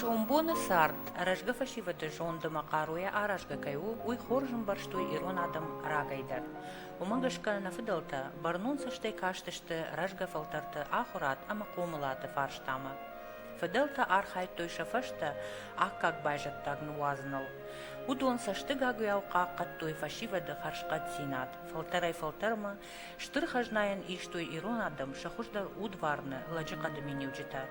сомбоны цард рӕзгӕ фӕсивӕды зонд ӕмӕ хъаруйӕ аразгӕ кӕй у уый хорз ӕмбӕрстой ирон адӕм рагӕй дӕр уымӕ гӕсгӕ нӕ фыдӕлтӕ бӕрнон цӕстӕй кастысты рӕзгӕ фӕлтӕрты ахуырад ӕмӕ хъомылады фарстамӕ Фыдӕлтӕ архайдтой сӕ фӕстӕ аккаг байзӕддаг ныуадзыныл. Уыдон цӕстыгагуыйау хъахъхъӕдтой фӕсивӕды хӕрзхъӕддзинад, фӕлтӕрӕй-фӕлтӕрмӕ стыр хӕзнайӕн истой ирон адӕм сӕ хуыздӕр удварны лӕджы хъӕды миниуджытӕ,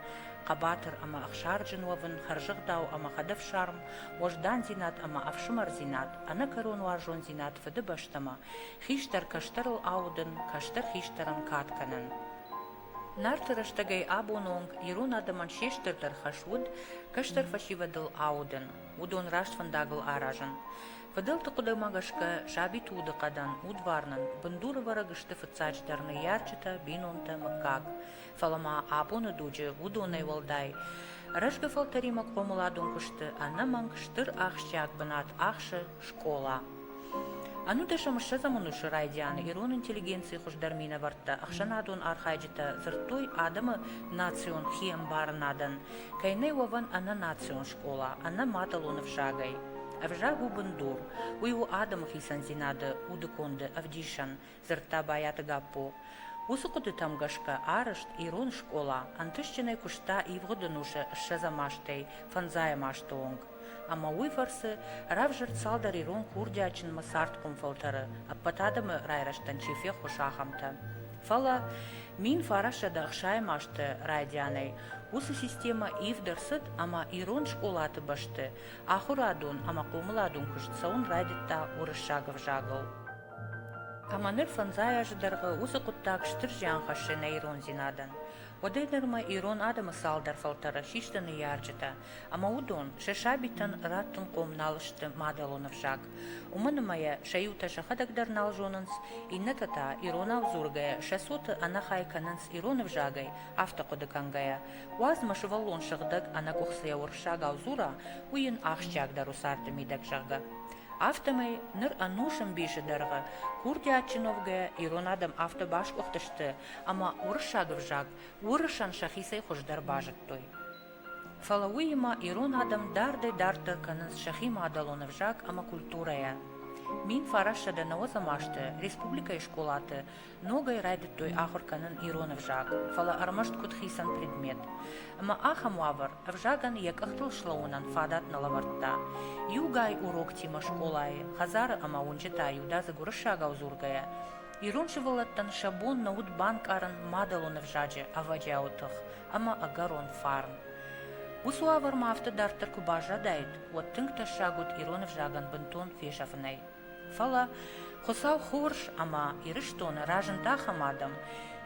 хъӕбатыр ӕмӕ ӕхсарджын уӕвын, хӕрзӕгъдау ӕмӕ хӕдӕфсарм, уӕздандзинад ӕмӕ ӕфсымӕрдзинад, ӕнӕкӕрон уарзондзинад Фыдыбӕстӕмӕ хистӕр кӕстӕрыл аудын, кӕстӕр хистӕрӕн кад кӕнын. Нарты рӕстӕгӕй абоны онг ирон адӕмӕн се стырдӕр хӕс уыд кӕстӕр фӕсивӕдыл аудын, уыдон раст фӕндагыл аразын. Фыдӕлты хъуыдымӕ гӕсгӕ, сабиты удыхъӕдӕн, удварнӕн бындуры вӕрӕг сты фыццаджыдӕр ныййарджытӕ, бинонтӕ, мыггаг. Фӕлӕ ма абоны дуджы уыдонӕй уӕлдай, рӕзгӕ фӕлтӕримӕ хъомыладон куысты ӕнӕмӕнг стыр ахсджиаг бынат ахсы скъола. Ӕнудӕсӕм ссӕдзӕмон усы райдианы ирон интеллигенцийы хуыздӕр минӕвӕрттӕ ӕхсӕнадон архайджытӕ дзырдтой адӕмы национ хиӕмбарынадӕн, кӕй нӕй уӕвӕн ӕнӕнацион скъола, ӕнӕ мадӕлон ӕвзагӕй. Ӕвзаг у бындур. Уый у адӕмы хицӕндзинады удыконды ӕвдисӕн, дзырдта Байаты Гаппо. Уыцы хъуыдытӕм гӕсгӕ арызт ирон скъола ӕнтыстджынӕй куыста ивгъуыд ӕнусы ссӕдзӕм азтӕй фӕндзайӕм азты онг ӕмӕ уый фӕрцы равзӕрд цалдӕр ирон курдиатджынмӕ цардхъом фӕлтӕры, ӕппӕт адӕмы райрӕзтӕн чи феххуыс, ахӕмтӕ. Фӕлӕ, мин фарассӕды ӕхсайӕм азты райдианӕй, уыцы системӕ ивд ӕрцыд ӕмӕ ирон скъолаты бӕсты ахуырадон ӕмӕ хъомыладон куыст цӕуын райдыдта уырыссаг ӕвзагыл. Ӕмӕ ныр фӕндзай азы дӕргъы уыцы хъуыддаг стыр зиан хӕссы нӕ ирондзинадӕн. Уӕдӕй дӕр ма ирон адӕмы цалдӕр фӕлтӕры систы ныййарджытӕ, ӕмӕ уыдон сӕ сабитӕн раттынхъом нал сты мадӕлон ӕвзаг. Уымӕн ӕмӕ йӕ сӕ иутӕ сӕхӕдӕг дӕр нал зонынц, иннӕтӕ та, иронау дзургӕйӕ, сӕ цоты ӕнӕхай кӕнынц ирон ӕвзагӕй, афтӕ хъуыды кӕнгӕйӕ. Уадз мӕ сывӕллон сыгъдӕг ӕнӕкъуыхцыйӕ уырыссагау дзура, уый йын ахсджиагдӕр у царды мидӕг, зӕгъгӕ. Афтӕмӕй ныр ӕнусы мбисы дӕргъы курдиатджын уӕвгӕ ирон адӕм афтӕ басгуыхтысты, ӕмӕ уырыссаг ӕвзаг уырысӕн сӕхицӕй хуыздӕр базыдтой. Фӕлӕ уыимӕ ирон адӕм дардӕй-дарддӕр кӕнынц сӕхи мадӕлон ӕвзаг ӕмӕ культурӕйӕ. Мин фарӕссӕдӕ нӕуӕдзӕм азты республикӕйы скъолаты ногӕй райдыдтой ахуыр кӕнын ирон ӕвзаг, фӕлӕ ӕрмӕст куыд хицӕн предмет. Ӕмӕ ахӕм уавӕр ӕвзагӕн йӕ къӕхтыл слӕууынӕн фадат нӕ лӕвӕрдта. Иугай уроктимӕ скъолайы, хӕдзары ӕмӕ уынджытӕ-иудадзыг уырыссагау дзургӕйӕ, ирон сывӕллӕттӕн сӕ бон нӕ уыд банкъарын мадӕлон ӕвзаджы ӕвӕджиауы тых ӕмӕ ӕгӕрон фарн. Уыцы уавӕрмӕ афтӕ дарддӕр куы баззадаид, уӕд тынг тӕссаг уыд ирон ӕвзагӕн бынтон фесӕфынӕй. Фӕлӕ, Хуыцау хорз ӕмӕ Ирыстоны разынд ахӕм адӕм,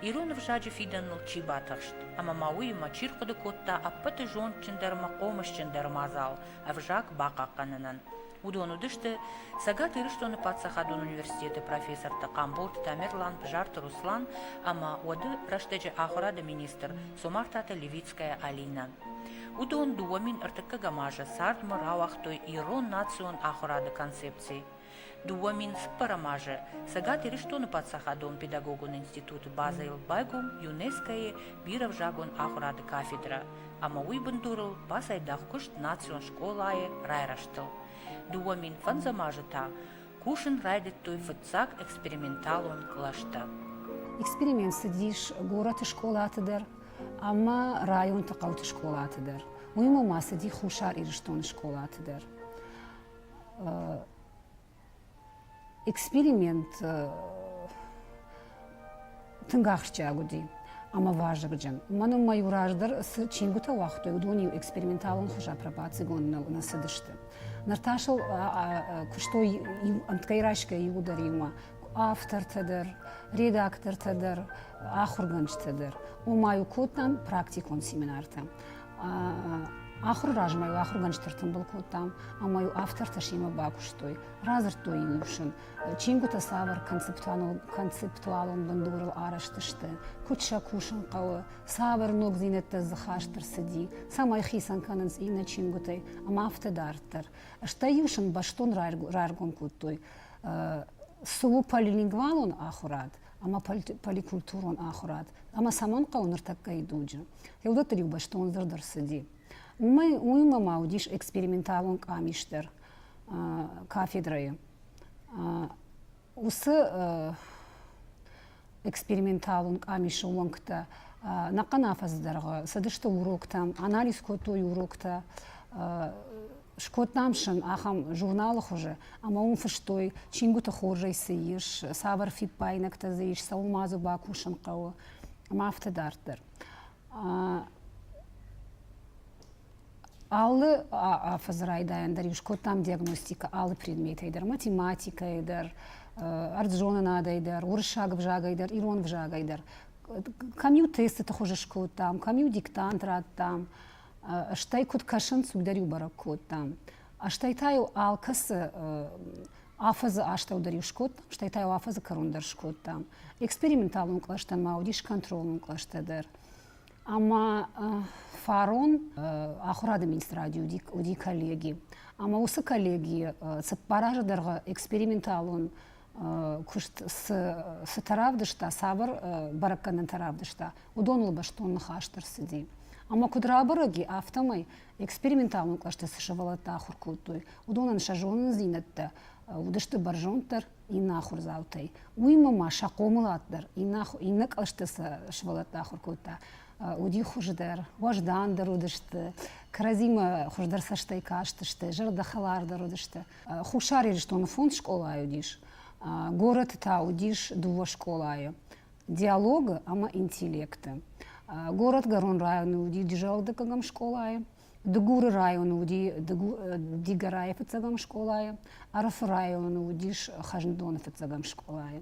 ирон ӕвзаджы фидӕныл чи батыхст ӕмӕ ма уыимӕ чи рхъуыды кодта ӕппӕты зондджындӕр ӕмӕ хъомысджындӕр мадзал ӕвзаг бахъахъхъӕнынӕн. Уыдон уыдысты Цӕгат Ирыстоны паддзахадон университеты профессортӕ Хъамболты Тамерлан, Бзарты Руслан ӕмӕ уӕды рӕстӕджы ахуырады министр Цомартаты Левит Луганская Алина. Уыдон дыууӕ мин ӕртыккӕгӕм азы цардмӕ рауагътой ирон национ ахуырады концепци. Дыууӕ мин цыппӕрӕм азы Цӕгат Ирыстоны паддзахадон педагогон институты базӕйыл байгом ЮНЕСКО-йы бирӕвзагон ахуырады кафедрӕ, ӕмӕ уый бындурыл бацайдагъ куыст национ скъолайы райрӕзтыл. Дыууӕ мин фӕндзӕм азы та кусын райдыдтой фыццаг эксперименталон кълӕстӕ. Эксперимент цыдис горӕты скъолаты дӕр, ӕмӕ районты хъӕуты скъолаты дӕр. Уыимӕ ма цыди Хуссар Ирыстоны скъолаты дӕр. Эксперимент тынг ахсджиаг уыди ӕмӕ вазыгджын. Уымӕн ӕмӕ иу раздӕр цы чингуытӕ уагътой, уыдон-иу эксперименталон хуызӕн пробацигонд нӕ цыдысты. Ныр та сыл куыстой ӕмтгӕй райсгӕ иуы дӕр иумӕ. автортӕ дӕр, редактортӕ дӕр, ахуыргӕнджытӕ дӕр. Ома-иу кодтам практикон семинартӕ. Ахуыры размӕ-иу ахуыргӕнджытӕ ртымбыл кодтам, ӕмӕ-иу автортӕ семӕ бакуыстой, радзырдтой ингусын, чингуытӕ цавӕр концептуалон бындурыл арӕзт сты, куыд сӕ кусын хъӕуы, цавӕр ногдзинӕдтӕ дзы хаст ӕрцыди, цӕмӕй хицӕн кӕнынц иннӕ чингуытӕй, ӕмӕ афтӕ дарддӕр. Стӕй-иу сын бӕстон раргом кодтой цы у полилингвалон ахуырад ӕмӕ поликультурон ахуырад ӕмӕ цӕмӕн хъӕуы ныртӕккӕйы дуджы, йе уыдӕттыл иу бӕстондӕр дӕр цыди. Уымӕй уыимӕ ма уыдис эксперименталон къамис дӕр кафедрӕйы. Уыцы эксперименталон къамисы уӕнгтӕ нӕхъӕн афӕдзы дӕргъы цыдысты уроктӕм, анализ кодтой уроктӕ, Скодтам сын ахӕм журналы хуызы, ӕмӕ уым фыстой, чингуыты хорзӕй цы ис, цавӕр фиппаинӕгтӕ дзы ис, цӕуыл-ма дзы бакусын хъӕуы, ӕмӕ афтӕ дарддӕр. Алы афӕдзы райдайӕн дӕр-иу скодтам диагностикӕ алы предметӕй дӕр, математикӕйы дӕр, ӕрдззонынадӕй дӕр, уырыссаг ӕвзагӕй дӕр, ирон ӕвзагӕй дӕр. Кӕм-иу тестыты хуызы скодтам, кӕм-иу диктант радтам, стӕй куыд кӕсынц, уый дӕр-иу бӕрӕг кодтам. Стӕй та-иу алкӕцы афӕдзы астӕу дӕр-иу скодтам, стӕй та-иу афӕдзы кӕрон дӕр скодтам. Эксперименталон кълӕстӕ ма уыдис контролон кълӕстӕ дӕр. Ӕмӕ фарон ахуырады министради уыди коллеги. Ӕмӕ уыцы коллегийы цыппар азы дӕргъы эксперименталон куыст цытӕ равдыста, цавӕр бӕрӕггӕнӕнтӕ равдыста, уыдоныл бӕстон ныхас ӕрцыди. Ӕмӕ куыд рабӕрӕг и, афтӕмӕй эксперименталон кълӕсты цы сывӕллӕттӕ ахуыр кодтой, уыдонӕн сӕ зонындзинӕдтӕ уыдысты бӕрзонддӕр иннӕ ахуырдзаутӕй. Уыимӕ ма сӕ хъомылад дӕр иннӕ, иннӕ кълӕсты цы сывӕллӕттӕ ахуыр кодта, уыди хуыздӕр, уӕздандӕр уыдысты, кӕрӕдзимӕ хуыздӕр цӕстӕй кастысты, зӕрдӕхӕлардӕр уыдысты. Хуссар Ирыстоны фонд скъолайы уыдис, горӕты та уыдис дыууӕ скъолайы диалогы ӕмӕ интеллекты. Горӕтгӕрон районы уыди Джаудыггӕгӕм скъолайы, Дыгуры районы уыди Дигорайы фыццӕгӕм скъолайы, Ӕрыфы районы уыдис Хӕзндоны фыццӕгӕм скъолайы.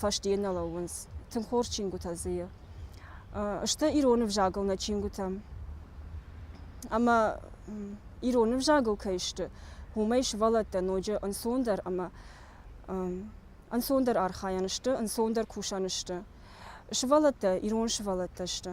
фӕстейӕ нӕ лӕууынц тынг хорз чингуытӕ дзы. Сты ирон ӕвзагыл нӕ чингуытӕ. Ӕмӕ ирон ӕвзагыл кӕй сты, уымӕй сывӕллӕттӕ ноджы ӕнцондӕр ӕмӕ ӕнцондӕр архайӕн сты, ӕнцондӕр кусӕн сты. Сывӕллӕттӕ ирон сывӕллӕттӕ сты.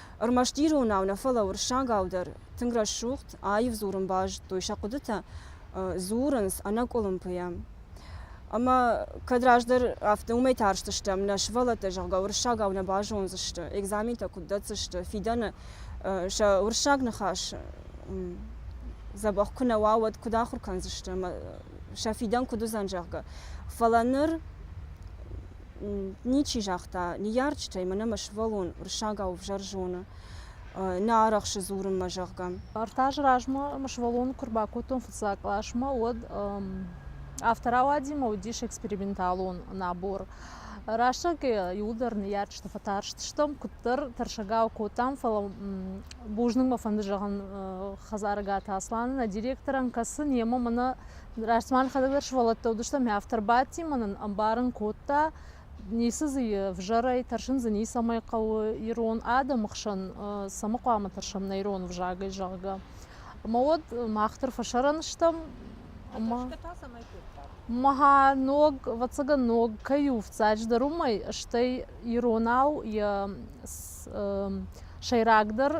Ӕрмӕст иронау нӕ, фӕлӕ уырыссагау дӕр тынг рӕсугъд, аив дзурын базыдтой сӕ хъуыдытӕ, дзурынц ӕнӕкъуылымпыйӕ. Ӕмӕ кӕд раздӕр афтӕ уымӕй тарстыстӕм, нӕ сывӕллӕттӕ, зӕгъгӕ, уырыссагау нӕ базондзысты, экзаментӕ куыд дӕтдзысты, фидӕны сӕ уырыссаг ныхас дзӕбӕх куы нӕ уа, уӕд куыд ахуыр кӕндзысты ӕмӕ сӕ фидӕн куыд уыдзӕн, зӕгъгӕ. Фӕлӕ ныр ничи загъта ныййарджытӕй мӕ нӕмӕ сывӕллон рыссагау ӕвзӕр зоны, нӕ арӕхсы дзурынмӕ, зӕгъгӕ. Ӕртӕ азы размӕ мӕ сывӕллоны куы рбакодтон фыццаг къласмӕ, уӕд авторы ауадимӕ уыдис эксперименталон набор. Рӕстӕгӕй иуылдӕр ныййарджыты фӕтарстыстӕм, куыддӕр тӕрсӕгау кодтам, фӕлӕ бузныг мӕ фӕнды зӕгъын Хӕдзарыгаты Асланы, нӕ директорӕн, кӕцы немӕ мӕнӕ Рӕстмӕ хӕдӕг дӕр сывӕллӕттӕ уыдыстӕм, мӕ автор бадти мӕ нын ӕмбарын кодта, ницы дзы ӕвзӕрӕй тӕрсын дзы ницӕмӕй хъӕуы ирон адӕмы хсӕн цӕмӕ хъуамӕ тӕрсӕм нӕ ирон ӕвзагӕй, зӕгъгӕ. Ӕмӕ уӕд мах дӕр фӕсарӕн стӕм. Ма ног, ӕвӕццӕгӕн, ног кӕй у, ӕфцӕдждӕр уымӕй, стӕй иронау йӕ сӕйрагдӕр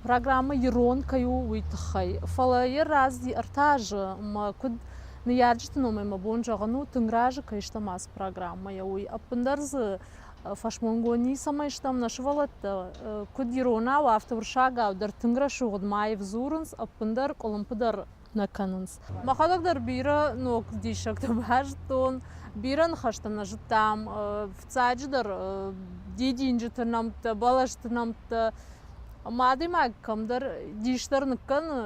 программӕ ирон кӕй у, уый тыххӕй. Фӕлӕ йӕ рӕзти ӕртӕ азы мӕ куыд ныййарджыты номӕй мӕ бон зӕгъын у, тынг разы кӕй стӕм ацы программӕйӕ, уый. Ӕппындӕр дзы фӕсмонгон ницӕмӕй стӕм, нӕ сывӕллӕттӕ куыд иронау, афтӕ уырыссагау дӕр тынг рӕсугъд ма йып дзурынц, ӕппындӕр къуылымпы дӕр нӕ кӕнынц. Мӕхӕдӕг дӕр бирӕ ног диссӕгтӕ базыдтон, бирӕ ныхӕстӕ нӕ зыдтам, фыццаджыдӕр дидинджыты нӕмттӕ, бӕлӕсты нӕмттӕ. Ӕмӕ адӕймаг кӕмдӕр дисдӕр ныккӕны,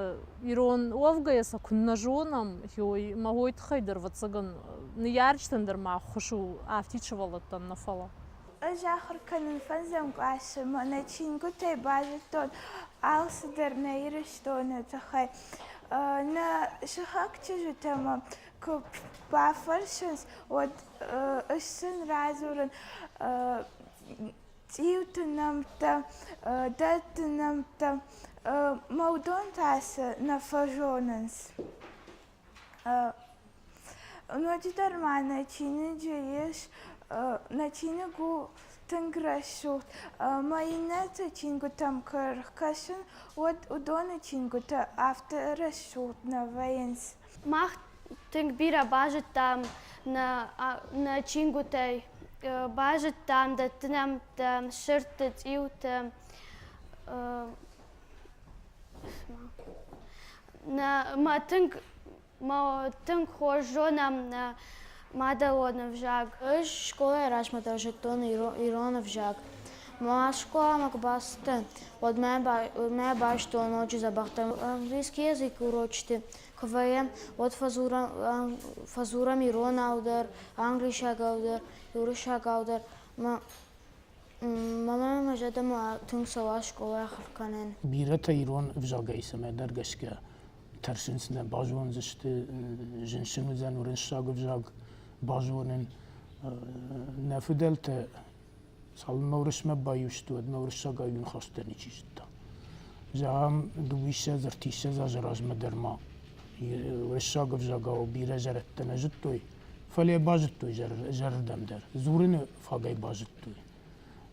ирон уӕвгӕйӕ сӕ куыннӕ зонӕм, ой, ӕмӕ уой тыххӕй дӕр, ӕвӕццӕгӕн, ныййарджытӕн дӕр ма ӕххуыс у, афтид сывӕллӕттӕн нӕ фӕлӕ. Ӕз ахуыр кӕнын фӕндзӕм къласы мӕ нӕ чингуытӕй базыдтон алцыдӕр нӕ Ирыстоны тыххӕй. Нӕ сыхаг чызджытӕмӕ куы бафӕрсынц, уӕд ӕз сын радзурын цъиуты нӕмттӕ, дӕтты нӕмттӕ. Мӕ уыдон та цы нӕ фӕзонынц. Ноджыдӕр ма нӕ чиныджы ис нӕ чиныг у тынг рӕсугъд ӕмӕ иннӕты чингуытӕм куы ӕркӕсын, уӕд уыдоны чингуытӕ афтӕ рӕсугъд нӕ вӕййынц. Мах тынг бирӕ базыдтам нӕ чингуытӕй, базыдтам, дӕттынӕмттӕ, сырдты, цъиуты, нӕ мӕ тынг ма тынг хорз зонӕм нӕ мадӕлон ӕвзаг. Ӕз скъолайы размӕ дӕр зыдтон ирон ӕвзаг. Мӕ скъоламӕ куы бацыдтӕн, уӕд мӕ байстой ноджы дзӕбӕхдӕр английский язык урочыты. Куы вӕййӕм, уӕд фӕдзурӕм иронау дӕр, англисагау дӕр, уырыссагау дӕр. Мамӕ мӕ зӕрдӕмӕ тынг цӕуа скъолайы ахуыр кӕнын. Бирӕтӕ ирон ӕвзагӕй цӕмӕдӕр гӕсгӕ тӕрсынц нӕ базондзысты, зынсын уыдзӕн уырыссаг ӕвзаг базонын. Нӕ фыдӕлтӕ цалынмӕ Уырысмӕ баиу сты, уӕдмӕ уырыссагӕй ныхӕстӕ ничи зыдта. Зӕгъӕм, дыууиссӕдз, ӕртиссӕдз азы размӕ дӕр ма уырыссаг ӕвзагау бирӕ зӕрӕдтӕ нӕ зыдтой, фӕлӕ базыдтой зӕрырдӕм дӕр, дзурыны фагӕй базыдтой.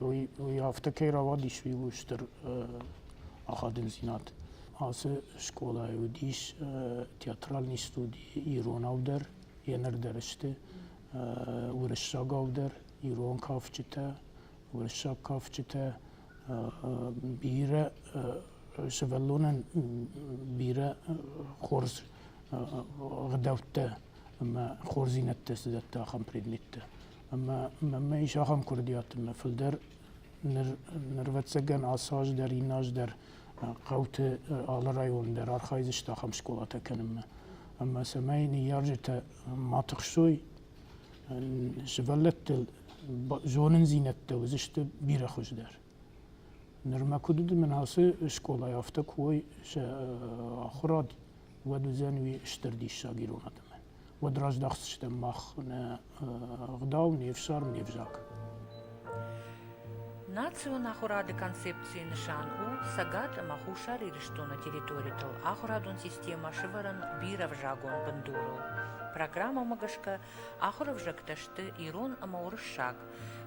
уый афтӕ кӕй рауадис, ууыл стыр ахадындзинад. Ацы скъолайы уыдис театральный студи иронау дӕр, енырдӕр сты уырыссагау дӕр, ирон кафджытӕ, уырыссаг кафджытӕ. Бирӕ сывӕллонӕн бирӕ хорз ӕгъдӕуттӕ ӕмӕ хорздзинӕдтӕ цы дӕтта ахӕм предметтӕ. ӕмӕ мӕй зӕгъӕм куырдиатимӕ, фылдӕр ныр нырвӕццӕгӕн ацы аз дӕр, иннӕ аз дӕр хъӕуты алы район дӕр архайдзысты ахӕм скъолатӕ кӕнынмӕ. Ӕмӕ цӕмӕй ныййарджытӕ ма тыхсой сывӕллӕттыл, зонындзинӕдтӕ уыдзысты бирӕ хуыздӕр. Нырма куыд уыд, мӕн ацы скъолайы афтӕ куы уой сӕ ахуырад уӕд уыдзӕн уый стыр диссаг ирон адӕмӕн. Уӕд раздахдзыстӕм мах нӕ ӕгъдау, не фсарм, не взаг. Национ ахуырады концепцийы нысан у Цӕгат ӕмӕ Хуссар Ирыстоны территоритыл ахуырадон системӕ сывӕрын бирӕвзагон бындурыл. Программӕмӕ гӕсгӕ ахуыр ӕвзӕгтӕ сты ирон ӕмӕ уырыссаг.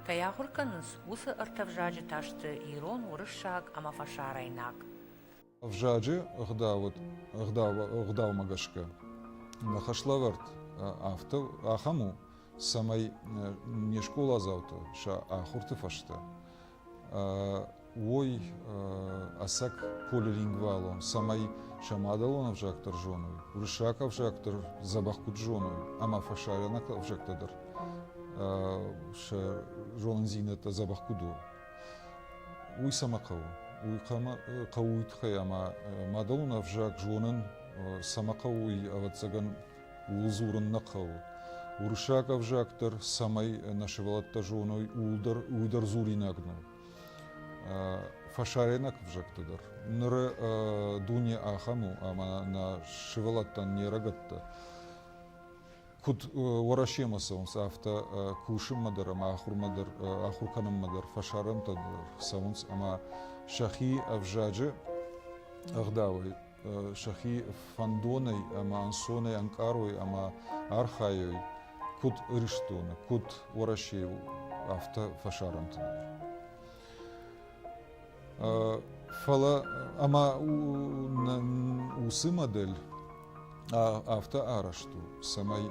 Кӕй ахуыр кӕнынц, уыцы ӕртӕ взаджы та сты ирон, уырыссаг ӕмӕ фӕсарӕйнаг. Ӕвзаджы ӕгъдаумӕ гӕсгӕ нӕ хӕслӕвӕрд афтӕ ахӕм у, цӕмӕй не скъоладзауты сӕ ахуырты фӕстӕ уой ӕцӕг полилингвалон, цӕмӕй сӕ мадӕлон ӕвзаг дӕр зоной, уырыссаг ӕвзаг дӕр дзӕбӕх куыд зоной ӕмӕ фӕсарӕнаг ӕвзӕгтӕ дӕр сӕ зонындзинӕдтӕ дзӕбӕх куыд уой. Уый цӕмӕ хъӕуы? Уый хъӕуы уый тыххӕй, ӕмӕ мадӕлон ӕвзаг зонын цӕмӕ хъӕуы, уый, ӕвӕццӕгӕн, ууыл дзурын нӕ хъӕуы. Уырыссаг ӕвзаг дӕр, цӕмӕй нӕ сывӕллӕттӕ зоной, ууыл дӕр, уый дӕр дзуринаг нӕу. Фӕсарӕйнаг ӕвзӕгты дӕр. Ныры дуне ахӕм у, ӕмӕ нӕ сывӕллӕттӕн не рӕгӕттӕ куыд Уӕрӕсемӕ цӕуынц, афтӕ кусынмӕ дӕр ӕмӕ ахуырмӕ дӕр, ахуыр кӕнынмӕ дӕр фӕсарӕнтӕ дӕр цӕуынц ӕмӕ сӕхи ӕвзаджы ӕгъдауӕй, сӕхи фӕндонӕй ӕмӕ ӕнцонӕй ӕнкъарой ӕмӕ архайой куыд Ирыстоны, куыд Уӕрӕсейыл, афтӕ фӕсарӕнты дӕр. Фӕлӕ ӕмӕ уыцы модель афтӕ арӕзт у, цӕмӕй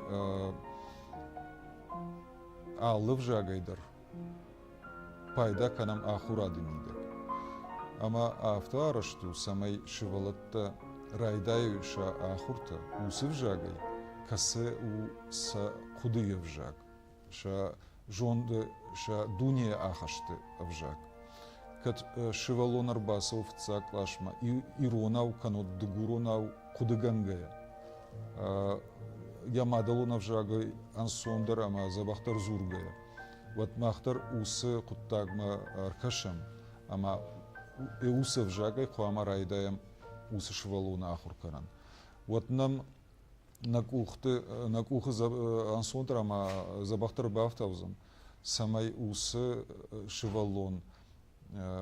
алы взагӕй дӕр пайда кӕнӕм ахуырады мидӕг. Ӕмӕ афтӕ арӕзт у, цӕмӕй сывӕллӕттӕ райдайой сӕ ахуыртӕ уыцы взагӕй, кӕцы у сӕ хъуыдыйы ӕвзаг. сӕ зонды, сӕ дунейы ахӕсты ӕвзаг. Кӕд сывӕллон ӕрбацӕуы фыццаг къласмӕ иронау кӕнӕ дыгуронау хъуыдыгӕнгӕйӕ, йӕ мадӕлон ӕвзагӕй ӕнцондӕр ӕмӕ дзӕбӕхдӕр дзургӕйӕ, уӕд мах дӕр уыцы хъуыддагмӕ ӕркӕсӕм ӕмӕ уыцы ӕвзагӕй хъуамӕ райдайӕм уыцы сывӕллоны ахуыр кӕнын. Уӕд нӕм нӕ къухты нӕ къухы ӕнцондӕр ӕмӕ дзӕбӕхдӕр бафтаудзӕн, цӕмӕй уыцы сывӕллон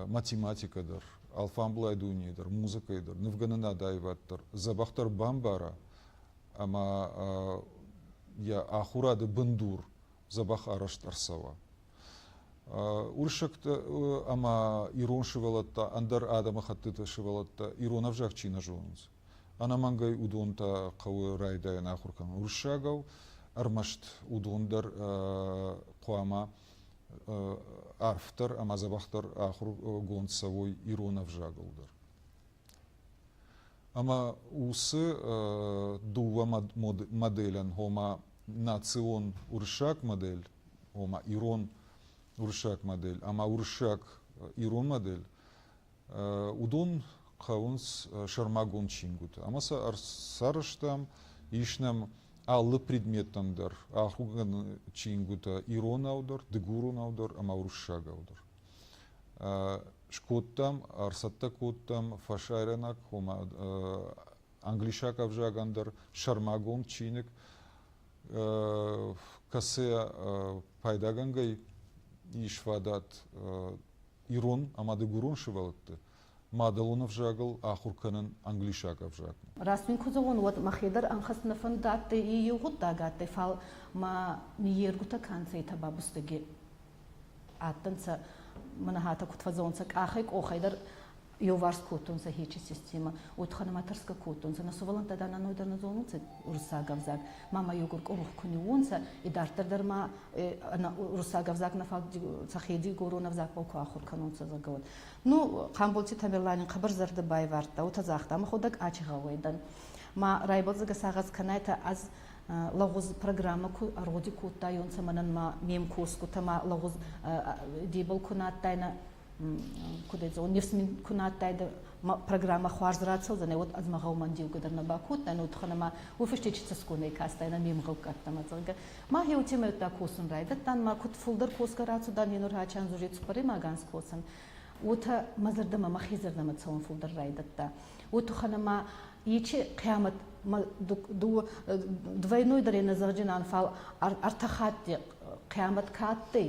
математикӕ дӕр, алфамблай дунейы дӕр, музыкӕйы дӕр, нывгӕнынад аивад дӕр дзӕбӕхдӕр бамбара ӕмӕ йӕ ахуырады бындур дзӕбӕх арӕзт ӕрцӕуа. Уырыссӕгтӕ ӕмӕ ирон сывӕллӕттӕ, ӕндӕр адӕмыхӕттыты сывӕллӕттӕ ирон ӕвзаг чи нӕ зонынц, Ӕнӕмӕнгӕй уыдон та хъӕуы райдайӕн ахуыр кӕнын. Уырыссагау ӕрмӕст уыдон дӕр хъуамӕ арфдӕр ӕмӕ дзӕбӕхдӕр ахуыргонд цӕуой ирон ӕвзагыл дӕр. Ӕмӕ уыцы дыууӕ моделӕн, ома национ уырыссаг модель, ома ирон уырыссаг модель ӕмӕ уырыссаг ирон модель, Уыдон хъӕуынц сӕрмагонд чингуыты ӕмӕ сӕ ӕрцарӕзтам, ис нӕм алы предметтӕн дӕр ахуыргӕнӕн чингуытӕ иронау дӕр, дыгуронау дӕр ӕмӕ уырыссагау дӕр. Скодтам, ӕрцӕттӕ кодтам фӕсарӕнаг, ома англисаг ӕвзагӕн дӕр сӕрмагонд чиныг, кӕцы пайдагӕнгӕй ис фадат ирон ӕмӕ дыгурон сывӕллӕтты мадӕлон ӕвзагыл ахуыр кӕнын англисаг ӕвзагмӕ. Раст мын куы зӕгъон, уӕд мӕхе дӕр ӕнхӕссын фӕнд дӕтты иу гъуддаг адтӕй, фал ма ниййергутӕ кӕнцӕйтӕ ба бустӕги адтӕнцӕ, мӕнӕ хатӕ куд фӕззӕунцӕ къахӕй-къохӕй дӕр еуварс кодтонцӕ хечи системӕ, уотӕ нӕматӕрсгӕ кодтонцӕ. Нӕ сувӕллӕнттӕ дӕр нӕнойдӕр нӕ зонунцӕ уруссаг ӕвзаг. Мама еугур къурух ку ниуонцӕ, идарддӕр дӕр ма уруссаг ӕвзагмӕ фаг Цӕхе дигорон ӕвзагбӕл ку ахур кӕнонцӕ, зӕгъгӕ, уӕд. Ну, Хъамболти Тамерлани хъӕбӕр зӕрдӕ байвардта, уотӕ загъта, Мӕхуӕдӕг ачи гъӕуӕй дӕн. Ма райбӕлдзӕгӕ сагъӕс кӕнайтӕ ӕз лӕгъуз программӕ ку ӕргъуди кодтайонцӕ, мӕнӕн ма ме мкосгутӕ ма лӕгъуз дебал ку нӕ адтайнӕ, куд он нефсмин ку на адтайдӕ программӕ хуарз рацӕудзӕнӕ уӕд ӕз мӕ гъӕумӕн деугӕ дӕр нӕ бакодтан утӕхӕн ӕма уой фӕсте чи цӕсгонӕй кастайнӕ ме мгъӕуккӕттӕмӕ зӕгъгӕ ма еу темӕйттӕ косун райдӕдтан ма куд фулдӕр косгӕ рацудан енор хачан зури цуппӕремаганс косун уотӕ мӕ зӕрдӕмӕ мӕхе зӕрдӕмӕ цӕун фулдӕр райдӕдта уотӕхӕн ӕма ичи хъиамӕт двойнойдӕрей нӕзӕгъджинӕн фал ӕртӕ хатти хъиамӕт ка адтӕй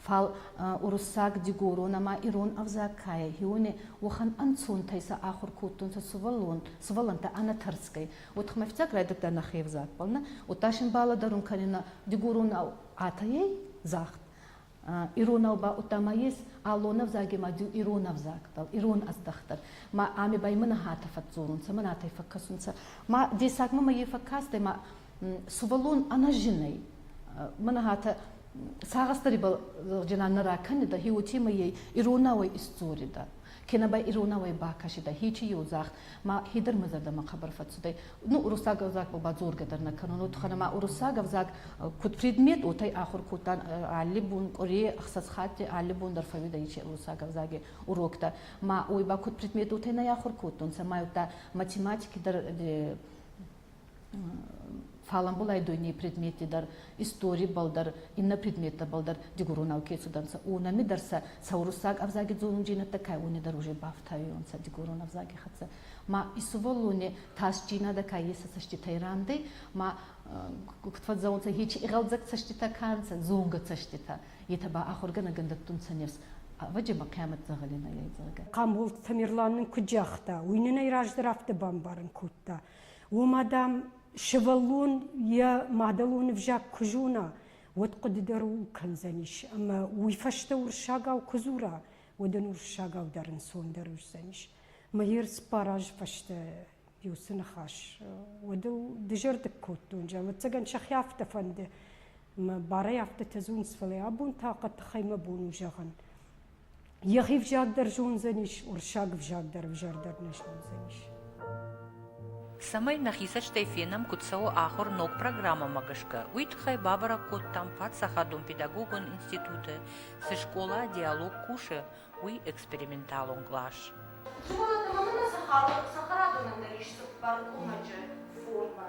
фал уруссаг, дигорон ӕма ирон ӕвзаг ка ӕй, еуони уӕхӕн ӕнцонтӕй сӕ ахур кодтонцӕ сувӕллонтӕ ӕнӕ тӕрсгӕй. Уотӕ мӕфтиаг райдӕдта нӕхе ӕвзагбӕл нӕ, удта син балӕдӕрун кӕнинӕ дигоронау атайӕй загъд. Иронау ба удта ма ес аллон ӕвзаги ма ду ирон ӕвзагбӕл, ирон ӕздӕхтӕн. Ма ами ба имӕ нӕхӕтӕ фӕдздзорунцӕ, ма нӕтӕй фӕккӕсунцӕ. Ма дессагмӕ ма е фӕккастӕй, ма сувӕллон ӕнӕзинӕй мӕнӕгатӕ сагъӕстарибал зӕгъджинан нӕ ракӕнидӕ хе уотемӕй иронауӕй исдзоридӕ кенӕ ба иронауӕй бакӕсидӕ хечи еудзагъд ма хедӕр мӕ зӕрдӕмӕ хъӕбӕр фӕццудӕй ну уруссаг ӕвзагбӕл ба дзоргӕ дӕр нӕ кӕнун уотхӕнӕ ма уруссаг ӕвзаг куд предмет уотӕй ахур кодтан алли бон къуре ӕхсӕз хатти алли бон дӕр фӕууидӕ ичи уруссаг ӕвзаги уроктӕ ма уой ба куд предмет уотӕй нӕ ахур кодтонцӕ ма еудта математики дӕр фаламбулай дойней предмети дӕр историбал дӕр иннӕ предметтӕбал дӕр дигурунау ке цудӕнцӕ унами дӕр сӕ сауруссаг ӕвзаги дзолунджийнӕдтӕ кай уни дӕр уже бафтайонцӕ дигурун ӕвзаги хӕццӕ ма исувӕллони тасджийнадӕ ка еса цӕститӕй рандӕй ма куд фӕдзӕунцӕ хечи игъӕлдзӕг цӕститӕ ка нцӕ зонгӕ цӕститӕ етӕ ба ахургӕнӕгӕн дӕттунцӕ нефс ӕвӕджемӕ хъиамӕт дзӕгъӕленӕй зӕгъгӕ. Хъамбол Тамерлан нын куыд загъта, уый нын ӕй раздӕр афтӕ бамбарын кодта, Ома, дам, сывӕллон йӕ мадӕлон ӕвзаг куы зона, уӕд хъуыды дӕр ууыл кӕндзӕнис, ӕмӕ уый фӕстӕ уырыссагау куы дзура, уӕд ын уырыссагау дӕр ӕнцондӕр уыдзӕнис. Мӕ ерыс пар азы фӕстӕ Биусы ныхас, уӕд ыл дызӕрдыг кодтон, ӕвӕццӕгӕн сӕхи афтӕ фӕнды, мӕ барӕй афтӕтӕ дзурынц, фӕлӕ абон та хъӕддыхӕй мӕ бон у зӕгъын. Йӕхи взаг дӕр зондзӕнис, уырыссаг ӕвзаг дӕр ӕвзӕр дӕр нӕ зондзӕнис. Цӕмӕй нӕхи цӕстӕй фенӕм, куыд цӕуы ахуыр ног программӕмӕ гӕсгӕ, уый тыххӕй бабӕрӕг кодтам паддзахадон педагогон институты, цы скъола Диалог кусы, уый эксперименталон кълас. Зонындоны цы халы сахарадон ӕмдӕрис цыппар къуымӕджы формӕ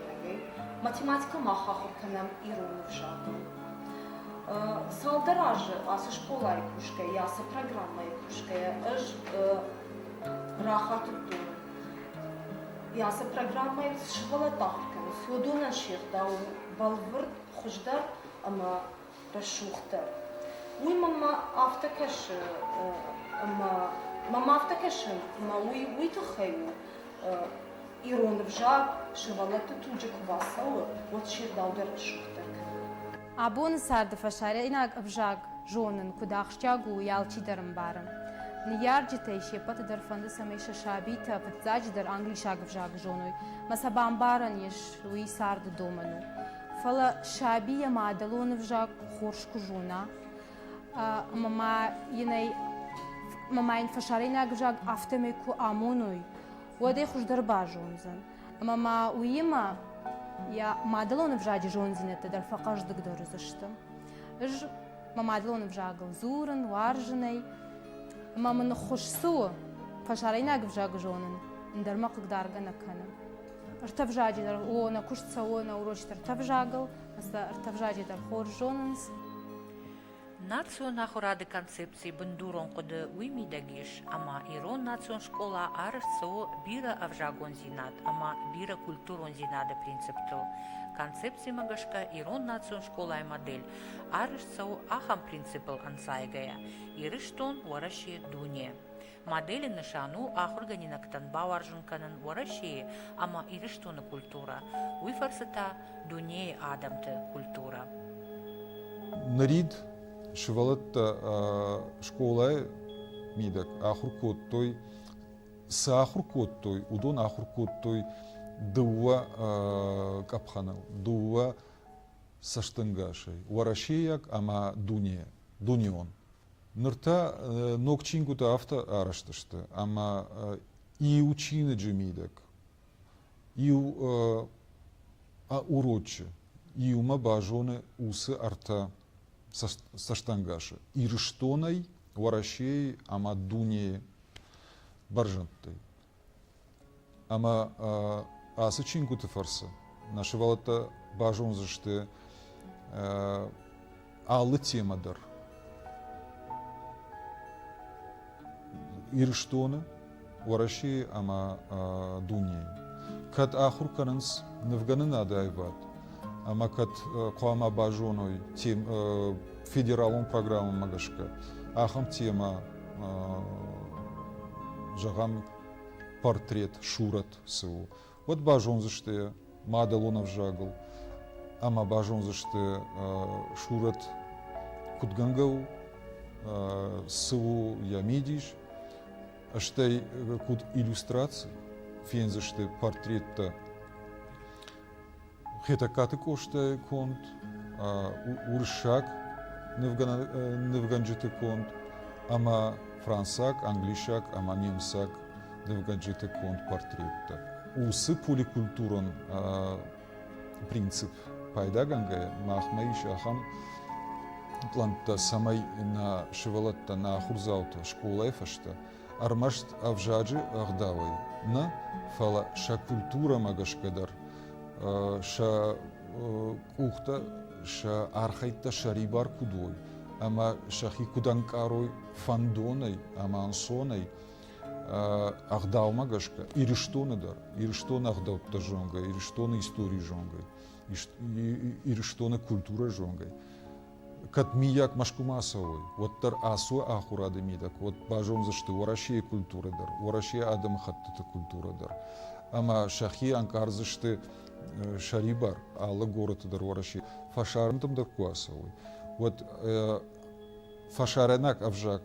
хӕдтӕгӕй, математикӕ мах ахуыр кӕнӕм ирон ӕвзагыл. Цалдӕр азы ацы скъолайы кусгӕйӕ, ацы программӕйы кусгӕйӕ ӕз рахатыдтон, йӕ ацы программӕйыл цы сывӕллӕтты ахуыр кӕны, уыдонӕн се гъдау бӕлвырд, хуыздӕр ӕмӕ рӕсугъддӕр. Уый мӕмӕ афтӕ кӕсы, ӕмӕ мӕм афтӕ кӕсы, ӕмӕ уый уый тыххӕй у, ирон ӕвзаг сывӕллӕтты туджы куы бацӕуы, уӕд се рдау дӕр рӕсугъддӕр кӕны. Абоны царды фӕсарӕйнаг ӕвзаг зонын куыд ахсджиаг у, уый алчидӕр ӕмбары. Ныййарджытӕй се ппӕты дӕр фӕнды, цӕмӕй сӕ сабитӕ фыццаджыдӕр англисаг ӕвзаг зоной, мӕ сӕ бамбарӕн ис, уый царды домӕн у. Фӕлӕ саби йӕ мадӕлон ӕвзаг хорз куы зона, ӕмӕ ма йын ӕй ӕмӕ ма йын фӕсарӕйнаг ӕвзаг афтӕмӕй куы амоной, уӕд ӕй хуыздӕр базондзӕн. Ӕмӕ ма уыимӕ йӕ мадӕлон ӕвзаджы зонддзинӕдтӕ дӕр фӕхъӕздыгдӕр уыдзысты. Ӕз мӕ мадӕлон ӕвзагыл дзурын, уарзын ӕй, ӕмӕ мын ныххуыз цы у, фӕсарӕйнаг ӕвзаг зонын ӕндӕр мӕ хъыгдаргӕ нӕ кӕны. Ӕртӕ дӕр о, нӕ куыст цӕуы нӕ урочыты ӕртӕ сӕ ӕртӕ дӕр хорз зонынц. Национ ахуырады концепцийы бындурон хъуыды уый мидӕг ис, ӕмӕ ирон национ скъола арӕзт цӕуы бирӕ ӕвзагондзинад ӕмӕ бирӕ культурондзинады принциптыл. Концепцимӕ гӕсгӕ ирон национ скъолайы модель арӕзт цӕуы ахӕм принципыл ӕнцайгӕйӕ: Ирыстон, Уӕрӕсе, дуне. Моделы нысан у ахуыргӕнинӕгтӕн бауарзын кӕнын Уӕрӕсейы ӕмӕ Ирыстоны культурӕ, уый фӕрцы та дунейы адӕмты культурӕ. Нырид сывӕллӕттӕ скъолайы мидӕг ахуыр кодтой, цы ахуыр кодтой, уыдон ахуыр кодтой дыууӕ къӕпхӕныл, дыууӕ цӕстӕнгасӕй, уӕрӕсейаг ӕмӕ дуне, дунеон. Ныр та ног чингуытӕ афтӕ арӕзт сты, ӕмӕ иу чиныджы мидӕг, иу урочы иумӕ базоны уыцы ӕртӕ цӕстӕнгасы, Ирыстонӕй, Уӕрӕсейы ӕмӕ дунейы бӕрзӕндтӕй. Ӕмӕ ацы чингуыты фӕрцы нӕ сывӕллӕттӕ базондзысты алы темӕ дӕр. Ирыстоны, Уӕрӕсейы ӕмӕ дунейы. Кӕд ахуыр кӕнынц нывгӕнынады аивад ӕмӕ кӕд хъуамӕ базоной федералон программӕмӕ гӕсгӕ ахӕм темӕ, зӕгъӕм, портрет Шурат цы у, уӕд базондзысты мадӕлон ӕвзагыл ӕмӕ базондзысты Шурат куыдгӕнгӕ у, цы у йӕ мидис, стӕй куыд иллюстраци фендзысты портреттӕ Хетӕгкаты Къостайы конд, уырыссаг нывгӕнджыты конд ӕмӕ францаг, англисаг ӕмӕ немыцаг нывгӕнджыты конд портреттӕ. Уыцы поликультурон принцип пайдагӕнгӕйӕ махмӕ ис ахӕм плӕнттӕ, цӕмӕй нӕ сывӕлӕттӕ, нӕ ахуырдзаутӕ скъолайы фӕстӕ ӕрмӕст ӕвзаджы ӕгъдауӕй нӕ, фӕлӕ сӕ культурӕмӕ гӕсгӕ дӕр, сӕ къухтӕ, сӕ архӕйдтӕ сӕрибар куыд уой ӕмӕ сӕхи куыд ӕнкъарой фӕндонӕй ӕмӕ ӕнцонӕй, ӕгъдаумӕ гӕсгӕ Ирыстоны дӕр, Ирыстоны ӕгъдӕуттӕ зонгӕ, Ирыстоны историйы зонгӕ, Ирыстоны культурӕ зонгӕ, кӕд миййаг Мӕскуымӕ цӕуой, уӕддӕр ацы ахуырады мидӕг уӕд базондзысты Уӕрӕсейы культурӕ дӕр, Уӕрӕсейы адӕмыхӕттыты культурӕ дӕр ӕмӕ сӕхи ӕнкъардзысты сӕрибар алы горӕты дӕр Уӕрӕсе фӕсарӕнтӕм дӕр куы ацӕуой, уӕд фӕсарӕнаг ӕвзаг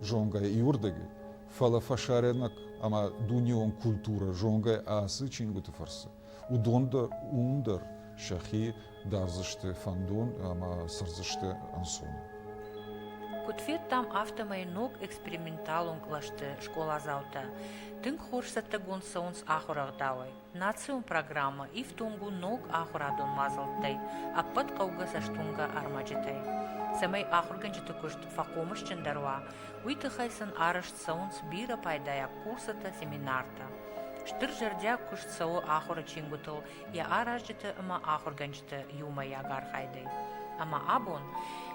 зонгӕйӕ иуырдыгӕй, фӕлӕ фӕсарӕнаг ӕмӕ дунеон культурӕ зонгӕйӕ ацы чингуыты фӕрцы. уыдон дӕр, уым дӕр сӕхи дардзысты фӕндон ӕмӕ цӕрдзысты ӕнцон. Куыд федтам, афтӕмӕй ног эксперименталон кълӕсты скъоладзаутӕ тынг хорз цӕттӕгонд цӕуынц ахуырӕгъдауӕй. Национ программӕ ифтонг у ног ахуырадон мадзӕлттӕй, ӕппӕт хъӕугӕ цӕстуынгӕ ӕрмӕджытӕй. Цӕмӕй ахуыргӕнджыты куыст фӕхъомысджындӕр уа, уый тыххӕй сын арӕзт цӕуынц бирӕ пайдайаг курсытӕ, семинартӕ. Стыр зӕрдиаг куыст цӕуы ахуыры чингуытыл йӕ аразджыты ӕмӕ ахуыргӕнджыты иумӕйаг архайдӕй. Ӕмӕ абон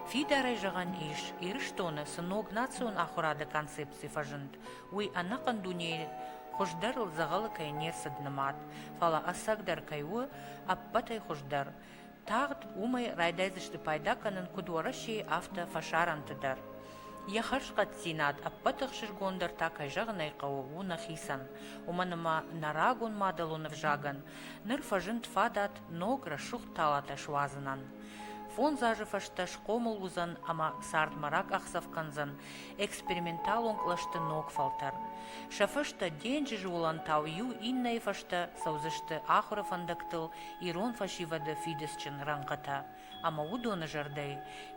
фидарӕй зӕгъӕн ис, Ирыстоны цы ног национ ахуырады концепци фӕзынд, уый ӕнӕхъӕн дунейы хуыздӕрыл дзӕгъӕлы кӕй не рцыд нымад, фӕлӕ ӕцӕгдӕр кӕй у ӕппӕтӕй хуыздӕр, Тагъд уымӕй райдайдзысты пайда кӕнын куыд Уӕрӕсейы, афтӕ фӕсарӕнты дӕр. Йӕ хӕрзхъӕддзинад ӕппӕт ӕхсызгон дӕр та, кӕй зӕгъын ӕй хъӕуы, у нӕхицӕн. Уымӕн ӕмӕ нӕ рагон мадӕлон ӕвзагӕн ныр фӕзынд фадат ног рӕсугъд талатӕ суадзынӕн. Фондз азы фӕстӕ схъомыл уыдзӕн ӕмӕ цардмӕ ракъахдзӕф кӕндзӕн эксперименталон кълӕсты ног фӕлтӕр. Сӕ фӕстӕ денджызы уылӕнтау иу иннӕйы фӕстӕ цӕудзысты ахуыры фӕндӕгтыл ирон фӕсивӕды фидыцджын рӕнхъытӕ, ӕмӕ уыдоны зӕрдӕйы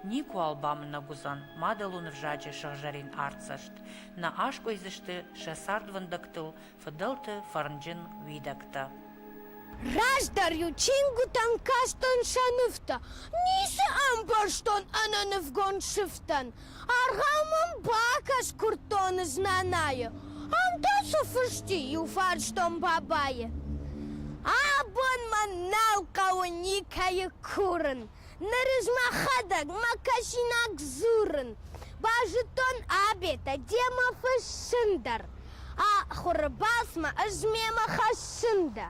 никуыуал бамынӕг уыдзӕн мадӕлон ӕвзаджы сыгъзӕрин артдзӕст, нӕ аскъуыйдзысты сӕ цардвӕндӕгтыл фыдӕлты фӕрнджын уидӕгтӕ. Раздӕр-иу чингуытӕн кастӕн сӕ нывтӕ, ницы ӕмбӕрстон ӕнӕнывгонд сыфтӕн, Аргъау мӕм бакӕс, куырдтон знӕнайы. Ам та цы фысти, иуфарстон бабайы. Абон мӕн нал хъӕуы никӕйы курын. Нырыз мӕхӕдӕг мӕ кӕсинаг дзурын. Базыдтон Абетӕ, демӕ фыссын дӕр. Ахуыры басмӕ ӕз мемӕ хӕссын дӕ.